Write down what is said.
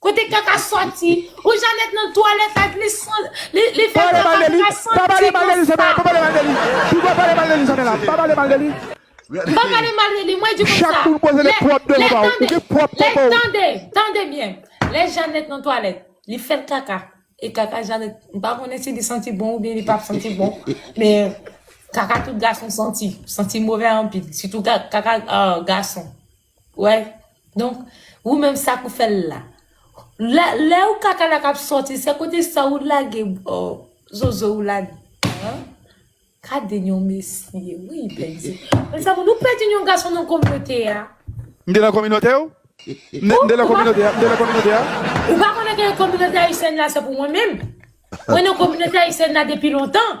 Kote kaka soti. Ou janet nan twalet ak li san li fè kaka li pa santi konsa. Pa pale mal de li Samela pa pale mal de li Pou pa pale mal de li Samela pa pale mal de li. Pa pale mal de li mwen di konsa. Chak moun poze le pwop devan paw ou gen pwop devan paw. Tande tande byen lè janet nan twalet li fè kaka e kaka janet m pa konnen si li santi bon oubyen li pa santi bon men kaka tout gason santi santi move anpil sitou kaka gason. Wè donk ou menm sak ou fèl la lè ou kaka la kap sòti se kote sa ou lage zozo ou la dan gade yon mesye wi bndye mes amour nou pèdi yon gason nan kominote a. M te nan kominote w? M te nan kominote a? Ou pa konnen ke kominote ayisyèn la se pou mwen menm? Mwen nan kominote ayisyèn la depi lontan.